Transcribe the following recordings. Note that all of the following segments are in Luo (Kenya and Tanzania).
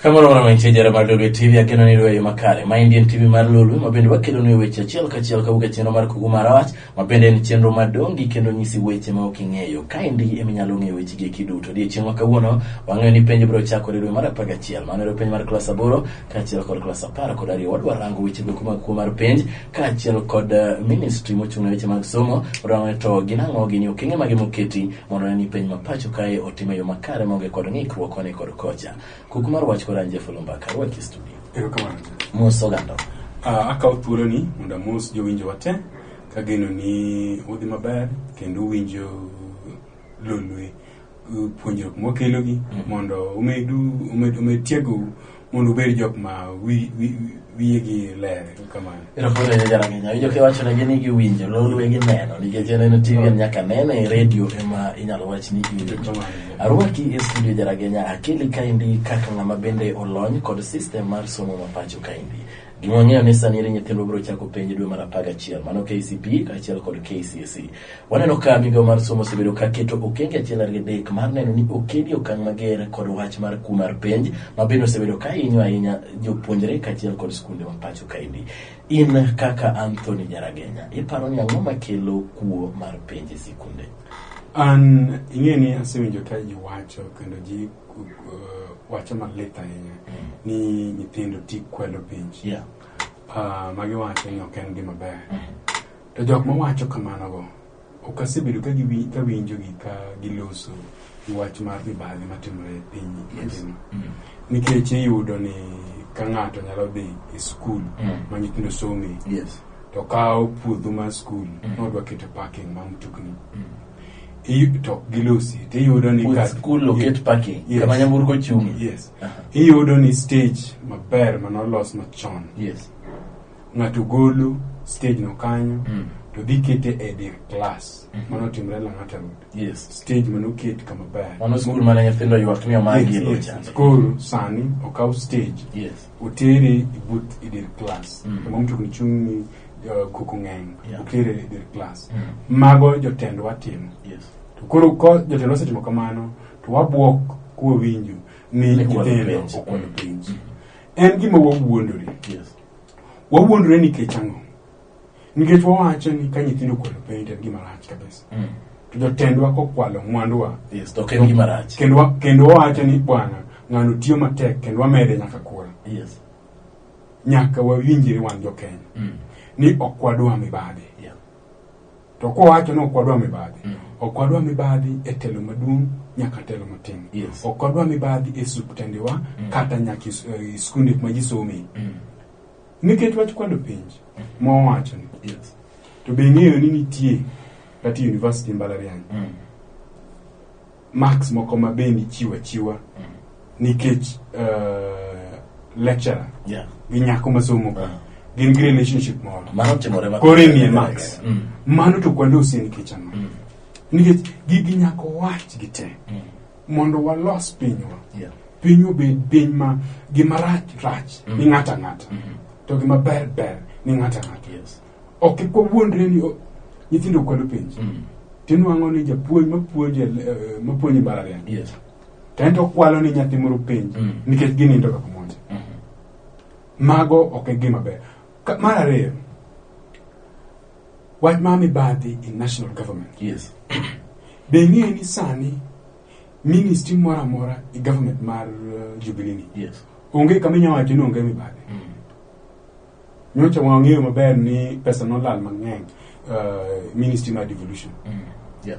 Kamoro mana mantie jara mar Lolwe TV akeno ni Lolwe makare. Ma Indian TV mar Lolwe ma bende wakelonu e weche achiel kachiel kawuok e chenro mar Kuku mar Wach. Ma bende en chenro ma dongi kendo nyisi weche ma ok ing'eyo. Kaendi ema inyalo ng'eyo weche gieki duto. Odiechieng' ma kawuono, wang'eyo ni penj biro chakore dwe mar apar gachiel. Mano ero penj mar klas aboro kaachiel kod klas apar kod ariyo. Wadwa rango weche goeko mag kuo mar penj kaachiel kod eh, ministry mochung' ne weche mag somo. Wadwa ng'eyo to gin ang'o gin okenge mage moketi mondo one ni penj ma pacho kae otim e yo makare maonge kod ng'ikruok koni kod kocha. Kuku mar wach kod an Jeff Olumba Karwaki studio. Erokamano. Mos oganda. Ah, akawo thuoloni mondo amos jowinjowa te Kageno ni udhi maber kendo uwinjo lolwe uh, puonjruok mwakelogi mondo umedu umed, umed tiegou mondo ubed jok ma wi- wi- wi- wiyegi ler kamano Erokamano ahinya Jarang'enya. Winjo kiwachonegi ni giwinjo, lolwe gineno nikech en en TV en nyaka nene e redio ema inyalo wach ni iwinjo. Arwaki e studio Jarang'enya akili kaendi kaka ng'ama bende olony kod system mar somo mapacho kaendi. Gima wang'eyo ni sani eri nyithindwa biro chako penj e dwe mar apar gachiel, mano KCPE kaachiel kod KCSE. Waneno ka migawo mar somo osebedo ka keto okenge achiel ariyo adek mar neno ni okedi okang' mager kod wach mar kuo mar penj ma bende osebedo ka hinyo ahinya jopuonjre kaachiel kod skunde ma pacho kaendi. In kaka Anthony Nyaragenya, iparo ni ang'o makelo kuo mar penj e sikunde? An ing'e ni asewinjo ka ji wacho kendo ji uh, wache malit ahinya ni nyithindo ti kwelo penj Yeah. uh, ma giwacho ni ok en gima ber to jok mawacho kamanogo ok asebedo ka giwi- ka winjogi ka giloso gi wach mar mibadhi matimore e piny mangima Mm. nikech iyudo ni ka ng'ato nyalo dhi e skul Mm. ma nyithindo some Yes. to kawo puodho mar skul Mm. nodwa keto parking ma mtokni Mm. I- to ok gilosi to iyudo ni With ka- school locate Ye- parking, yes. kama nyamburko chung'. yes Aha. iyudo ni stage maber manolos machon Yes. ng'ato golo stage no kanyo Mm. to dhi kete e dir class Mhm. mano timre lang'ata road Yes. stage manoket kama ber Mano skul mane nyithindo ywak ni omagi Yes, e yes. locha. koro sani okaw stage Yes. oteri ibut i dir klas Mm. kama mtokni chung' ni uh, koko ng'eny Yeah. okere i dir klas Mm. mago jotendwa timo Yes. to koro ko jotendwa osetimo kamano to wabwok kwawinjo ni Ni kwalo nyithindo penj. okwalo Mm. penj en gima wawuondore Yes. wawuondore nikech ang'o nikech wawacho ni ka nyithindo okwalo penj en gima rach kabisa Mm. to jotendwa kokwalo mwanduwa Yes, to ok en gima rach. kendo wa- kendo wawacho ni bwana ng'ano tiyo matek kendo wamede nyaka kura Yes. nyaka wawinjre wan jokenya Mm. ni ok wadwa mibadhi Yeah. to kowacho ni ok wadwa mibadhi Mm. ok wadwa mibadhi e telo maduong' nyaka telo matin Yes. ok wadwa mibadhi e suptendewa Mm. kata nyaka e s- e skunde kuma ji some Mm. Nikech wach kwado penj mowacho ni. Yes. To be ng'eyo ni nitie kata university mbalariany. Mm. Marks moko ma be nichiwa chiwa mm. nikech uh, lecturer. Yeah. Gi nyako masomo. Uh. Gin gi relationship moro. Mano timore ma. Kore ni marks. Mm. Mano to kwando usi nikech ano. Mm. Nikech gigi nyako wach gi te. Mm. mondo walos pinywa Yeah. piny obed piny ma gima rach rach ni Mhm. ng'ato ang'ata Mhm. to gima ber ber ni ng'ato ang'ata Yes. ok kik wawuondre ni o- nyithindo kwalo penj Mm. tinwang'o ni japuonj mapuonje eh, mapuonje mbalariany Yes. to en to okwalo ni nyathi moro penj Mm. nikech ginindo kaka monje Mhm. mago ok e gima ber Ka- mar ariyo Wach mar mibadhi in national government. Yes. Be ing'eyo ni sani ministry moro amora e government mar uh, Jubilee ni Yes. onge kama inyalo wacho ni onge mibadhi. Mm. Nyocha wang'eyo maber ni pesa nolal mang'eny uh, ministry mar devolution. Mm. Yeah.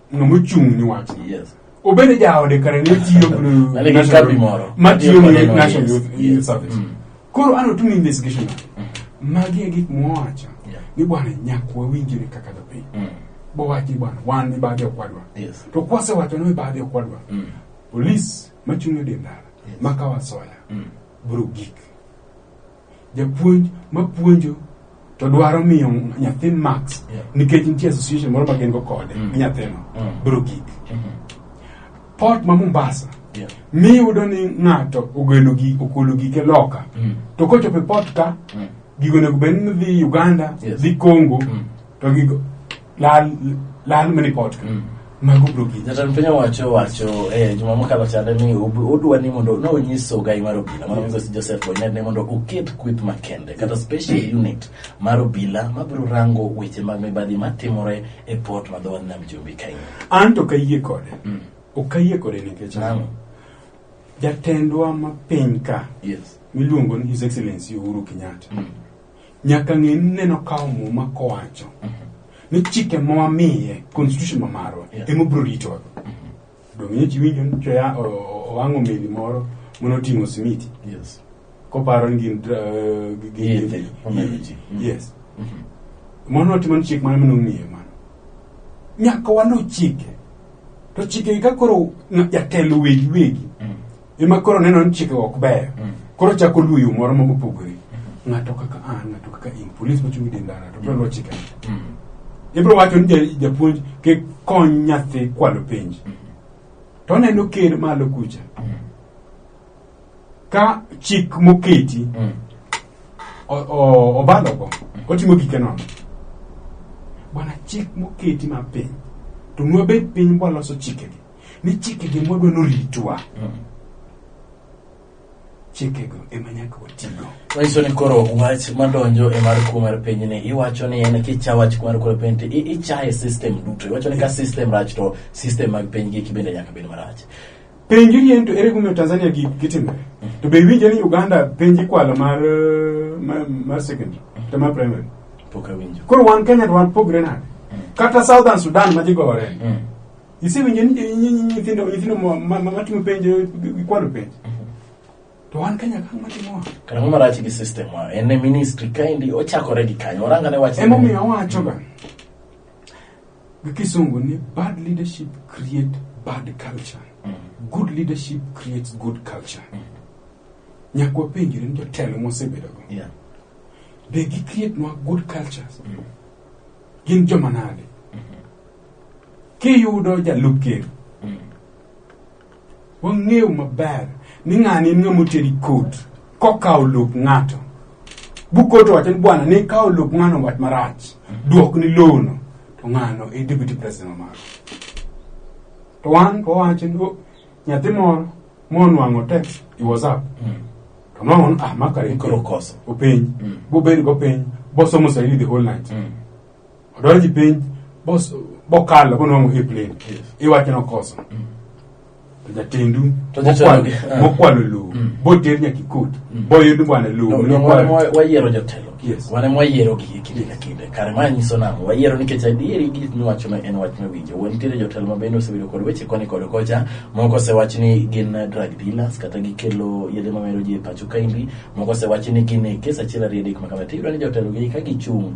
ng'ama ochung' ni wach yes obende jaode kare ne tiyo kod Nale gi national- kambi moro. matiyo Tiyo kod ne NYS. national youth Yes. youth service Mm. koro an otim investigation magi e gik mwawacho Yeah. ni bwana nyaka wawinjire kaka jopiny Mm. bowach ni bwana wan mibadhi okwadwa yes to kwasewacho ni mibadhi okwadwa Mm. polis machung' e dendara Yes. makawa soya Mm. bro gik japuonj mapuonjo to dwaro miyo nyathi max Yeah. nikech nitie association moro ma gin go kode Mm. gi nyathino Mm. biro gik Mhm. port ma mombasa Yeah. miyudo ni ng'ato ogolo gi okolo gike loka Mm. to kochopo e port ka Mm. gigo onego bed ni dhi uganda Yes. dhi congo Mm. to gigo lal lal mini podcast mm. mago bro gi jatan piny owacho wacho eh juma mokalo chande ni odwa ni mondo no nyiso gai mar obila mano nyiso si Joseph Boynet ni mondo oket kwith makende kata special unit mar obila ma biro rango weche mag mibadhi ma timore e port ma dhowath nam chumbi kae an to kayie kode mm. okayie kode nikech nano jatendwa ma piny ka yes miluongo ni his excellency Uhuru Kenyatta mm. nyaka ng'e ni neno kawo muma kowacho ni chike ma wamiye constitution ma marwa Yeah. ema obiro ritowa donge chi winjo ni choya o- o- owang'o meli moro mono oting'o simiti Yes. koparo ni gin dra- eh, gi- gi- Yedhe, gi- omero ji. Mm. yes Mhm. mono otimo ni chik mane mane ong'iye mano nyaka waluw chike to chike ka koro na- jatelo wegi wegi Mm. ema koro neno ni chikego ok beyo Mm. koro chako luwo yo moro mopogore ng'ato kaka an ng'ato kaka in polis mochung' e dendara to biro luwo chikego Mm. ibiro wacho ni ja- japuonj kik kony nyathi kwalo penj to oneno ker malo kucha ka chik moketi Mm. o- o- obalogo otimo gike nono bwana chik moketi mapiny to nwabed piny bwaloso chikegi ni chikegi mwadwa noritwa chikego ema nyaka watigo manyiso ni koro wach madonjo e mar kuo mar piny ni iwacho ni en kicha wach kuo mar kuo mar piny to i- ichaye system duto iwacho ni ka system rach to system mag piny giki bende nyaka bed marach penjo yien to ere kumiyo tanzania gi- gitimore to be iwinjo ni uganda penj ikwalo mar eh, mar, mar secondary to mar primary pok awinjo koro wan kenya to wan pogre nade kata southern sudan ma jigore Mm. Isewinjo ni nyi- nyi- nyi- nyithindo nyithindo ma- ma- ma- matimo penjo gikwalo penjo. To wan Kenya ka matimowa. Kara mama rach gi system wa. En e ministry kaendi ochakore gi kanyo. Oranga ne wach. Emomiyo awachoga gi kisungu ni bad leadership create bad culture. Good leadership creates good culture. Nyaka wapenjre ni jotelo mosebedogo. Yeah. Be gi create nwa good cultures? Gin joma nade? kiyudo jalup ker wang'eyo maber ni ng'ani en ng'ama oteri kot kokawo lop ng'ato bukot owacho ni bwana ne ikawo lop ng'ano wat marach duok ni lowono to ng'ano e deputy president maro to wan to wawacho ni "Oh, nyathi moro monwang'o text i whatsapp to nwango ni ah makare Koro koso. openj Mm. bobedo gopenj bosomo swahili the whole night Mm. odonji piny bos bokalo bonwang'o hip lane Yes. iwacho nokoso Mm. to jatendu To jatelo- mokwalo- eh. mokwalo lowo Mm. boter nyaka ikot Mm. boyud bwana lowo No, no, wan mokwalo. mwa- wayiero jotelo Yes. wane mwayiero gi kinde ka kinde kare ma nyiso nang'o wayiero nikech adieri gik miwacho ma en wach mawinjo wuon nitiere jotelo ma bende osebedo kod weche koni kod kocha moko osewach ni gin eh, drug dealers kata gikelo yedhe mamero ji e pacho kaendi moko osewach ni gin e kes achiel ariyo adek makama tiyudo ni jotelo gi ka gichung'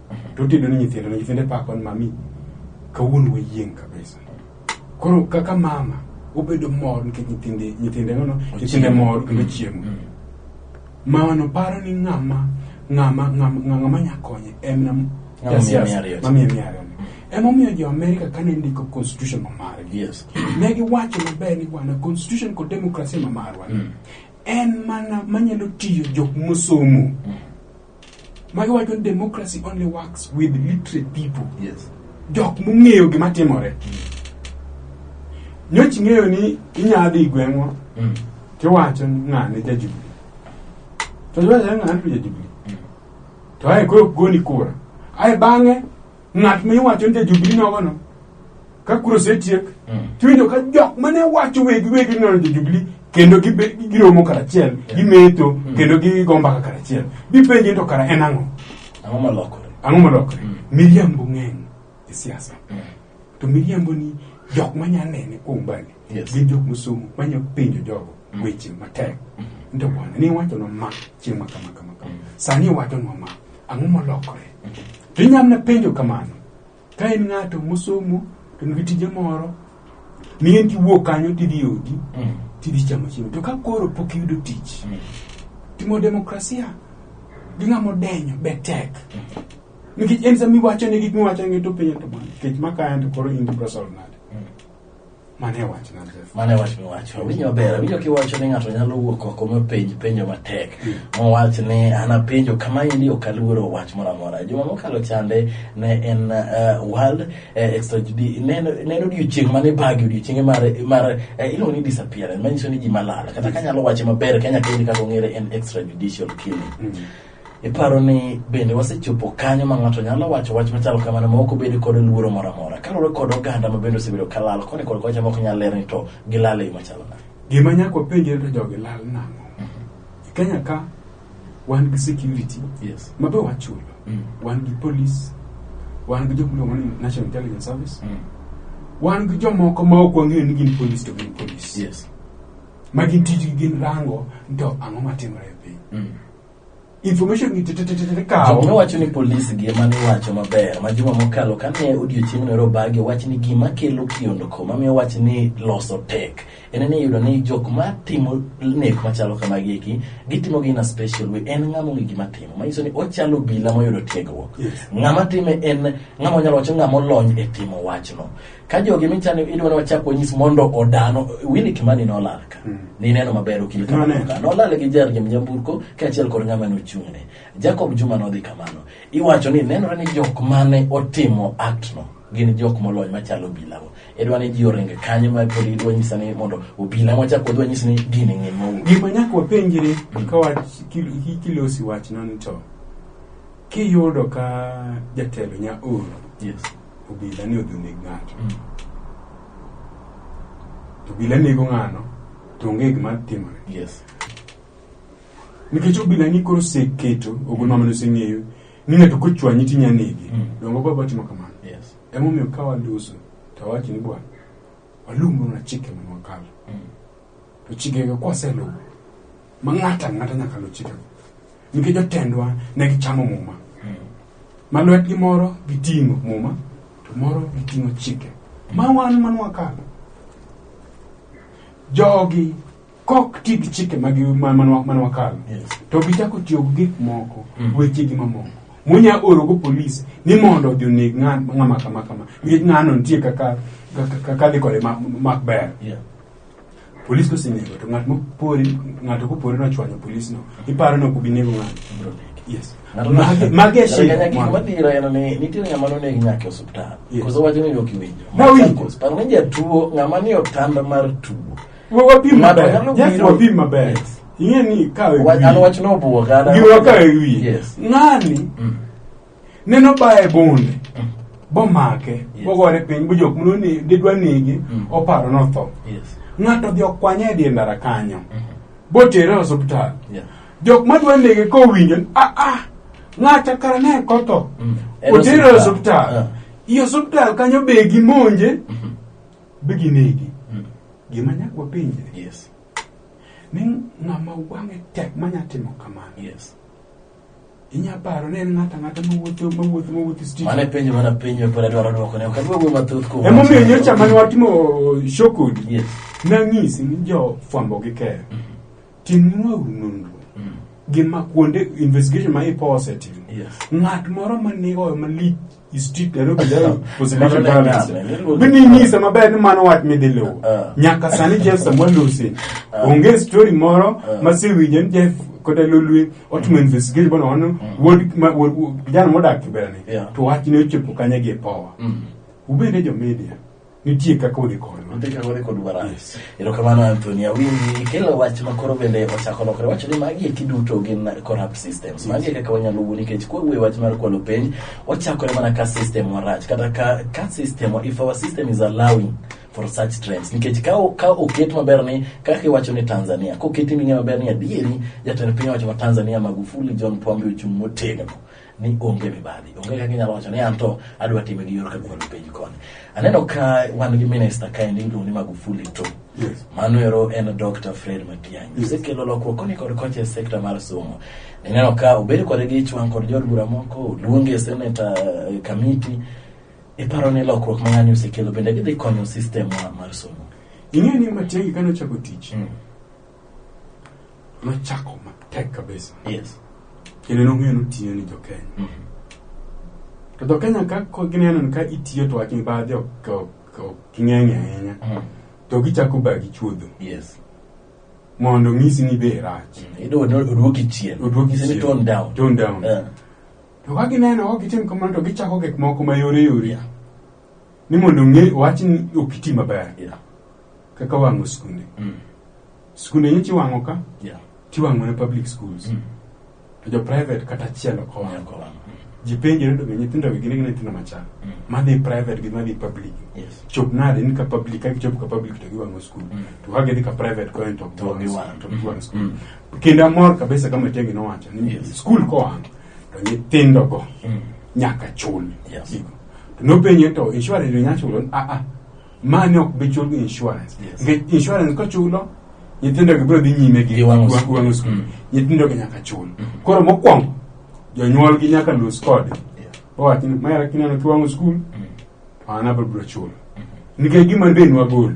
to otedo ne nyithindo to nyithinde pako ni mami kawuono wayieng' kabisa koro kaka mama obedo mor nikech nyithinde nyithinde nono nyithinde Ochiemo. mor kendo chiemo Mm. mamano paro ni ng'ama ng'ama ng'ama ng'ama nya konye en nam- Ng'ama Yes, miye yes, mia ariyo. ng'ama miye mia ariyo. emomiyo jo america kane ndiko constitution ma margi Yes. ne giwacho maber ni bwana constitution kod demokrasia ma marwa Mm. en mana manyalo tiyo jok mosomo Magi wacho ni democracy only works with literate people. Yes. Jok mong'eyo gima timore. Nyoch ng'eyo ni inyalo dhi gweng'wa Mm. tiwacho ni ng'ane ja Jubilee. To iwacho ni ng'ane to ja Jubilee. To ae koro goni kura. Ae bang'e ng'at ma iwacho ni jajubili nogono ka kuro osetiek Mm. tiwinjo ka jok mane wacho wegi wegi nono jajubili kendo gibe- giromo karachiel gimetho kendo gigo mbaka karachiel gipenje ni to kara en ang'o Ang'o molokore? ang'o molokore Mm. miriambo ng'eny e siasa Mm. to miriambo ni jok manya nene kuom mbali Yes. gin jok mosomo manya penjo jogo weche matek nto bwana ni iwacho no ma chieng' ma kama kama kama sani iwacho no ma Ang'o molokore? To inyalo na penjo kamano. Ka en ng'ato mosomo to nigi tije moro, miyo kiwuok kanyo tidhi odi, mm. tidhi chamo chiemo. To ka koro pok iyudo tich, mm. timo demokrasia gi ng'amo denyo be tek. Mm. Nikech en sama iwacho ne gik miwacho ne to penjo to nikech maka en to koro in to biro solo nade. Mane wach na Jeff. Mane wach miwacho. Winyo maber. Awinjo kiwacho ni ng'ato nyalo wuok oko mopenj penjo matek. Hmm. Mowach ni an apenjo kama endi ok aluoro wach moro amora. Juma mokalo chande ne en uh, World uh, eh, Extra Judi. Ne en odiochieng' mane bagi odiochienge mar mar uh, eh, iluongo ni disappearance. Manyiso ni ji malala. Kata kanyalo wache maber Kenya kendi kaka ong'ere en extrajudicial killing. Mm. Iparo ni bende wasechopo kanyo ma ng'ato nyalo wacho wach machalo kamano ma ok obed kod luoro moro amora kaluwore kod oganda ma bende osebedo ka lal koni kod kocha ma ok nyal ler ni to gilal e yo machalo nade Gima nyaka wapenjre to jogi lal nang'o? E Kenya ka wan gi security yes ma be wachulo. Mm. Wan gi police, wan gi jok miluongo ni National Intelligence Service, mm. wan gi jomoko ma ok wang'eyo ni gin police to gin police. yes Ma gin tijgi gin rango ni to ang'o matimore e piny. mm. information gi tetetetete kawo Jok nowacho ni polis gi ema niwacho maber ma juma mokalo kane odiochieng' noro bagi owach ni gima kelo kiondko mamiyo wach ni loso tek en ni iyudo ni jok ma timo nek machalo kamagi eki gitimo gi in a special way en ng'ama ong'e gima timo manyiso ni ochalo obila moyudo tiegruok Yes. ng'ama time en ng'ama onyalo wacho ng'ama olony e timo wachno ka jogi michano idwa ni wachak wanyis mondo odano Willy Kimani nolal ka hmm. nineno maber okil kamano nolal gi jargi mnyamburko kaachiel kod ng'ama nochung'ne Jacob Juma nodhi kamano iwacho ni nenore ni jok mane otimo aktno gin jok molony machalo obilago idwa ni ji oringe kanye ma pod idwa nyisa ni mondo obila mwachak wadwa nyisa ni gini ng'e mau gima nyaka wapenjre hmm. ka kilosi wachno ni to kiyudo ka jatelo nya oro yes. obila ni odhi oneg ng'ato mm. to obila nego ng'ano to onge gima timore yes. nikech obila ni koro oseketo ogol mamano oseng'eyo ni ng'ato kochwanyi tinya nege mm. dongo baba timo kamano yes. emomiyo ka waduso to awachi ni bwana walumbona chike manwakalo mm. to chikego kwaseluwo ma ng'ato ang'ata nyaka luw chikego nikech jotendwa ne gichamo muma ma lwetgi moro giting'o muma to moro giting'o chike ma wan man wakalo jogi kok ti gi chike ma gi- ma- man wa- man wakalo Yes. to gichako tiyo gi gik moko Mm. wechegi mamoko munya orogo polis ni mondo odhi oneg ng'a- ng'ama kama kama nikech ng'ano nitie kaka kaka- kaka dhi kode ma- mak ber Yeah. Polis kosenego to ng'at mopori ng'ato kopori nochwanyo polis no iparo ni ok obi nego ng'ato. Yes. Ng'ato no- Magi- Magi e shida. Nyaka gima dhira en ni nitie ng'ama noneg nyaka e osiptal Yes. koso wacho ni ok iwinjo Nawinjo. Koso paro ni jatuo ng'ama ni otanda mar tuo Wa- Wapim Ng'ato maber. nyalo Yes, biro- wapim maber. Yes. Ing'e ni kawe Wa- an wachno obuoga an- Giwa kawe wiye. Yes. Ng'ani Mm. neno baye bonde bomake Yes. bogore piny bo jok mno ni didwa negi Mm. oparo notho Yes. ng'ato odhi okwanye e die ndara kanyo botere e osiptal Yeah. jok madwa nege kowinjo ni, ah ah ng'acha kara ne kotho Mm. En otere e osiptal. osiptal Ah. i osiptal kanyo be gimonje be ginegi Mm. gima nyaka wapenje Yes. ni ng'ama wang'e tek manya timo kamano Yes. inya paro ni en ng'ato ang'ata mawuotho mawuotho mawuotho street Mane penjo mana penjo pod adwaro dwoko ne ok adwa wuoyo mathoth kuom emomiyo nyocha mane watimo show kodi Yes. nang'isi ni jo fwambo gi keyo timnwauru nonro Mm. gi ma kuonde investigation ma ipo osetimo Yes. ng'at moro ma nigoyo malich i strict I don't be there because Mano religion ne balance nyame, niluongo- bi ni nyisa maber ni mano wach midhi luwo Ah. nyaka sani Jeff Samuel Lucy onge story moro masewinjo ni Jeff kata Lolwe otimo investigation bono wano wuod ma- wuod- wuod- kijana modak Kiberani Yeah. to wach ne ochopo kanye gi e power Mm. ubende jo media nitie kaka odhi kodwa Nitie kaka odhi kodwa ra. Yes. erokamano anthony awinji ikelo wach ma koro bende ochako lokore wacho ni magi eki duto gin corrupt systems magi e kaka wanyalo wuo nikech kwawuoye wach mar kwalo penj wachakore mana ka system warach kata ka, ka system if our system is allowing for such trends nikech ka, o- ka oket maber ni kaka iwacho ni tanzania koketi ming'e maber ni adieri jatend piny owacho ma tanzania magufuli john pombe ochung' motegno ni onge mibadhi onge kaka inyalo wacho ni anto adwa time gi yor kagwelo piny koni aneno ka wan gi minista kaendi iluongo ni magufuli to Yes. mano ero en dr fred matiang'i Yes. osekelo lokruok koni kod kocha e sekta mar somo nineno ka obed kode gi ichwang' kod jood bura moko oluonge e seneta eh, kamiti iparo ni lokruok ma ng'ani osekelo bende gidhi konyo sistem wa mar somo Ing'eyo ni Matiang'i kane ochako tich, Mm. nochako matek kabisa Yes. kendo nong'eyo ni otiyo ni jokenya Mhm. to jokenya ka ko gineno ni ka itiyo to wach mibadhi ok ok- ok ging'eny ahinya Mhm. to gichako bagi chuodho Yes. mondo onyisi ni be rach Iyudo odu- oduoki chien. Oduoki Isemi chien. tone down. Tone down. Eh. to ka gineno ok gitim kamano to gichako gik moko mayore yore Yeah. ni mondo ong'e wach ni ok iti maber Yeah. kaka wang'o skunde Mm. skunde nyichi wang'o ka Yeah. tiwang'o ne public schools Mm. to jo private kata achiel ok Owang'o owang'o kowang'o. ji penjore to be nyithindo gi gin nyithindo machal Mm. madhi private gi madhi public Yes. chop nade ni ka public ka gichopo ka public to giwang'o skul Mm. to ka gidhi ka private konyo to To giwang'. to giwang' skul Mm. kendo amor kabisa kama Tiangi nowacho ni Yes. skul kowang' to nyithindogo Mm. nyaka chul Yes. Gigo. To nopenje to insurance be nyalo chulo? Ah ah. Mani ok bi chul gi insurance. Yes. Nikech insurance kochulo nyithindo gi biro dhi nyime gi Gi wang'o wang- skul. wang'o skul. Mm. Nyithindo gi nyaka chul. Koro mokwongo jonyuol gi nyaka los kode. Yeah. Owach ni mara kineno kiwang'o skul Mm. to an abiro biro chulo. Nikech gima be nwagolo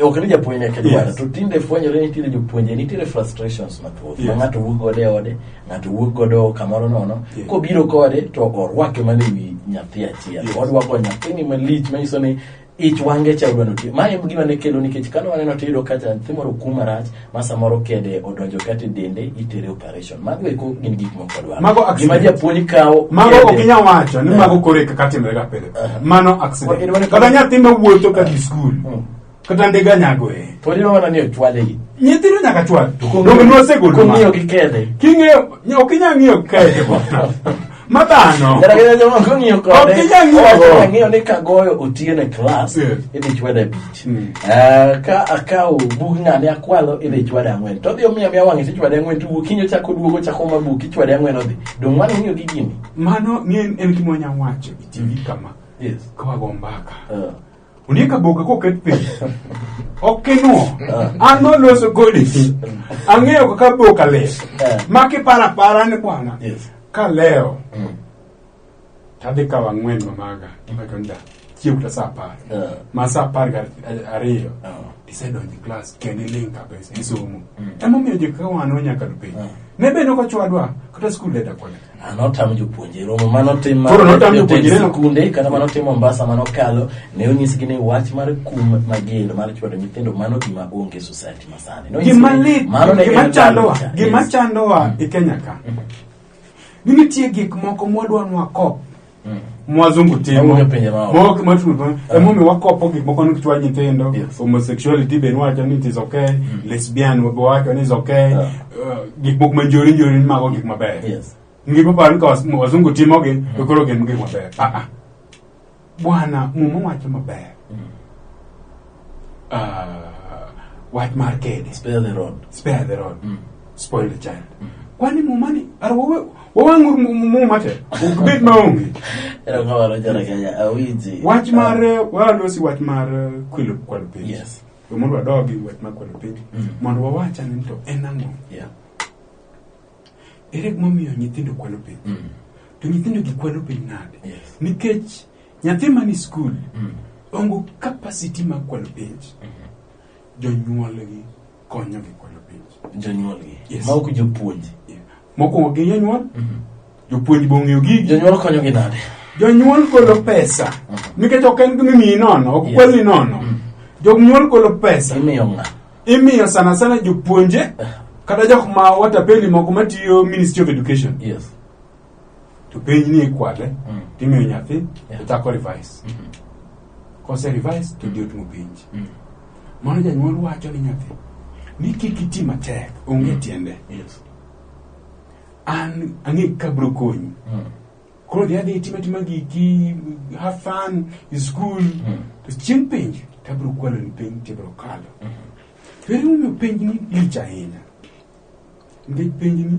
ok ni japuonj eke dwaro Yes. to tinde fwenyore nitiere jopuonje nitiere frustrations mathoth ma Yes. ng'ato wuok godo e ode ng'ato wuok godo kamoro nono Yes. kobiro kode to orwake mana e wi nyathi achiel Yes. orwako nyathini malich manyiso ni ich wange cha odwa notiyo ma en gima ne kelo nikech kane waneno tiyudo kacha nyathi moro okum marach ma samoro kede odonjo kata e dende itere operation mago eko gin gik moko dwaro Mago accident. gima japuonj kawo mago kede. ok inyal wacho ni Eh. mago koro e kaka timre ga pile Eh. mano Wa- accident idwani- kata nyathi ma wuotho ka dhi skul Mm. kata ndiga nyago e pod iwe mana ni ochwale gi nyithindo nyaka chwal donge nwasegol kong'iyo gi kede king'eyo ok inyal ng'iyo kae ma dhano Kata kata joma kong'iyo Ok kode, ginyal ng'iyo owacho go. ang'eyo ni kagoyo otieno e klas, Yes. idhi chwada abich. Mm. Ah, ka akawo bug ng'ane akwalo, idhi chwada ang'wen. To odhi omiyo amiya wang'e to ichwade ang'wen, to wuok kiny ochako oduogo, ochako omo buk, ichwade ang'wen odhi. Donge mano ng'iyo gi gini? mano ni en en gima wanyalo wacho itivi kama Yes. kawago mbaka Ah. Ondiek aboka koket piny. Ok kinuo. An noloso kodi. Ang'eyo kaka aboka ler. Eh. Ma kiparo apara ni bwana. Yes. Kaleo. Mm. Tadhi kawo ang'wen mamaga. Gimacho nda. Chiew ta sa apar. Eh. Ma sa apar gar ariyo. Eh. Isedonjo klas kendo iling kabisa isomo. Mm. Emomiyo jokaka wan wanyaka do piny. Eh. Ne bende ok ochwadwa kata skul deda kode. Ah, notamo jopuonje romo manotim Koro notamo jopuonjre no? skunde kata manotim mombasa manokalo ne onyisgi ni wach mar kum mager mar chwado nyithindo mano gima onge e society masani Nonyisgi gima ni lit mano ne gima en chandowa culture. gima Yes. chandowa e kenya ka ni nitie gik moko mwadwa nwa kop Mm. mwazungu timo Mawuoyo pinje maoko. Mawuoyo kuma timo pinje. Ah. Emomiyo wakopo gik moko ni kichwa nyithindo Yes. homosexuality be niwacho ni it is okay lesbian be wacho ni is okay Ah. Uh, gik moko manjori njori ni mago gik mabeyo Yes. ngima paro ni ka was- wazungu timogi to koro gin gik mabeyo Ah, ah. bwana muma wacho mabeyo uh, wach mar kede Spare the rod. spare the rod Mm. spoil the child kwani mumani ar wawang'ur muma te ok bed maonge Era kama wanajana Kenya awiji. wach mar eh, walosi wach mar eh, kwelo kwalo penj Yes. We mondo wadogi wach mar kwalo penj Mm. mondo wawach ane ni to en ang'o Yeah. ere gimomiyo nyithindo kwalo penj Mm. to nyithindo gikwalo penj nade Yes. nikech Nyathi mani skul mm. ongo capacity mar kwalo penj. Mm-hmm. Jonyuolgi konyogi kwalo penj. Jonyuolgi. Yes. Ma ok jopuonj. Yeah. Mokwongo gi jonyuol. Mm-hmm. Jopuonj be ong'eyo gigi. Jonyuol konyogi nade? Jonyuol golo pesa. Mm-hmm. Nikech ok en gima imiyi nono, ok kwali nono. Jonyuol golo pesa. Imiyo ng'a? Imiyo sana sana jopuonje eh. kata jok ma watapeli moko matiyo Ministry of Education. Yes. to penj ni ikwale Mm. timiyo nyathi Yeah. to chako revise Mm. kose revise to diot mo penj Mm. mano janyuol wacho ni nyathi ni kik iti matek onge Mm. tiende Yes. an ang'e ka bro konyi Mm. koro dhi adhi itima tima giki have fun in school Mm. to chieng' penj to abro kwalo ni penj to ibro kalo Mm. to ere momiyo penj ni lich ahinya nikech penj ni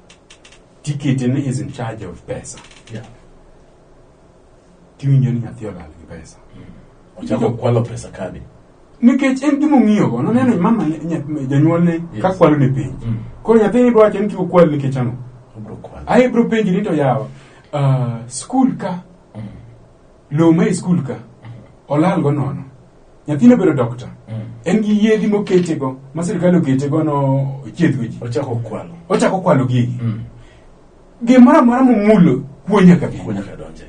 Tiketene is in charge of pesa. Yeah. Tiwinjo ni nyathi olal gi pesa. Ochako kwalo pesa kadi. Nikech en gima ong'iyogo, noneno mama nya- janyuolne ka Yes. kwalo ne penj. Mm. Koro nyathini bro wacho ni tuo kwal nikech ang'o? Obro kwalo. Aye bro penji ni to yawa, ah, skul ka Lowo ma e skul ka olalgo nono. Nyathino bedo dokta. En gi yedhi moketego ma sirkal oketego no chiedhgo ji. Ochako kwalo. Ochako kwalo gigi. Gimoro amora momulo kuo nyaka bi. Kuo nyaka donje.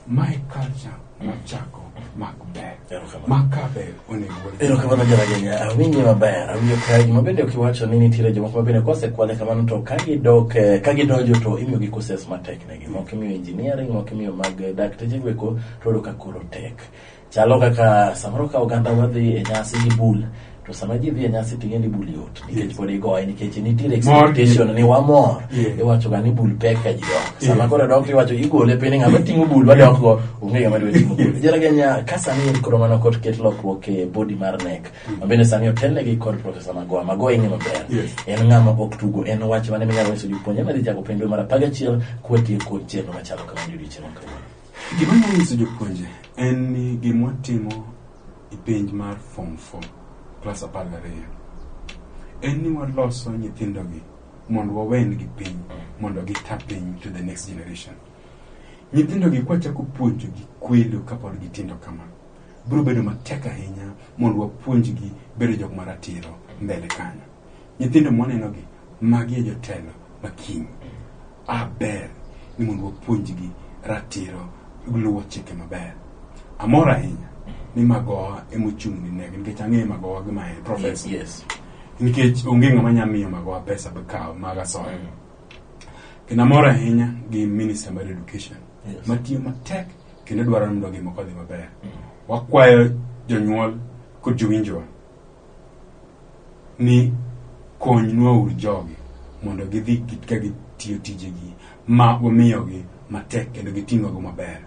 Ma e culture mochako mak ber. Erokamano. Ma ka ber onego wal- Erokamano jaragenya, awinje maber, awinjo ka gima bende ok iwacho ni nitiere jomoko ma bende kosekwale kamano to ka gidok eh, ka gidonjo to imiyogi courses matek ne moko imiyo engineering moko imiyo mag dakteche go eko to oyudo ka koro tek chalo kaka samoro ka oganda wadhi e nyasi gi bul to sama ji dhi e nyasi to ing'e ni bul yot nikech pod igoye nikech nitiere expectation ni wamor Yeah. iwacho ga ni bul pek ka ji dok sama koro dok iwacho igole piny ng'ama ting'o bul wadok go onge ng'ama dwa ting'o bul jaraga nya ka sani en koro mana kot ket lokruok e body mar nek Ma bende sani otelnegi kod Profesa Magoha. Magoha ing'e maber. Yes. En ng'ama ok tugo. En wach mane minyalo nyiso jopuonjre madhi chako penj dwe mar apar gachiel kwatieko chenro machalo kama ni odiochieng' ma kawuono. Gima anyalo nyiso jopuonje en ni gima watimo e penj mar form 4 klas apar gariyo en ni waloso nyithindogi mondo wawengi piny mondo gita piny to the next generation. Nyithindogi kwachako puonjogi kwelo kapod gitindo kama biro bedo matek ahinya mondo wapuonjgi bedo jok maratiro mbele kanyo nyithindo mwanenogi magi e jotelo ma kiny aber ni mondo wapuonjgi ratiro luwo chike maber amor ahinya ni magowa emochung' ni negi nikech ang'eyo magowa gi mae profesa Yes. nikech onge ng'ama nya miyo magowa pesa bikawo mag asoya kendo amor ahinya gi minister mar education Yes. matiyo matek kendo dwaro ni mondo gik moko odhi maber. Wakwayo jonyuol kod jowinjowa ni konynwa uru jogi mondo gidhi git- ka gitiyo tijegi ma wamiyogi matek kendo giting'ogo maber.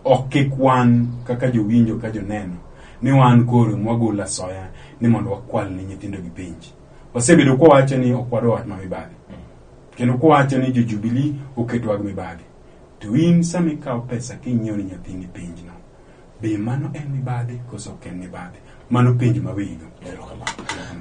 Ok kik wan kaka jowinjo ka joneno ni wan koro mwagolo asoya ni mondo wakwal ne nyithindogi penj. Wasebedo kwawacho ni ok wadwa wach ma mibadhi kendo kwawacho ni jo Jubilee oketwa gi mibadhi. To in sama ikawo pesa kinyiewo ne nyathini penjna, be mano en mibadhi koso ok en mibadhi? Mano penj ma weyino.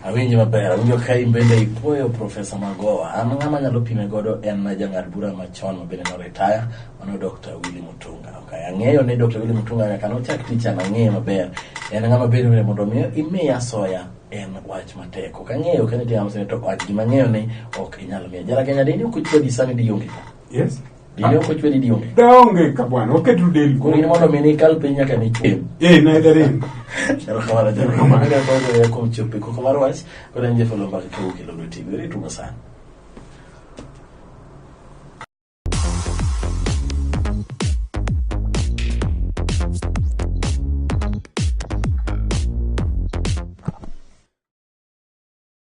awinji maber awinjo ka in bende ipuoyo profesa magowa an ng'ama nyalo pime godo en jang'ad bura machon ma bende noretaya mano dr willi mutunga okay. ang'eyo ni dr willi mutunga nyaka nochak tich an ang'eyo maber en ng'ama bende bende mondo mi imiya soya en wach matek ok ang'eyo kanitie ng'ama sene to wach gima ang'eyo ni ok inyal miya jara kenya dini ok ochwadi sani dionge ka Yes. Dine ok ochwe ni ni onge. Da onge ka bwana, oketu del. Koro in mondo mi nikal piny nyaka ni chwe. Eh, na da ring. Erokamano jalo. Erokamano. Kaka kwanza ya kuom chope koko mar wach, koro en jafalo mbaka ka ukelo lweti. Weri tumo sana.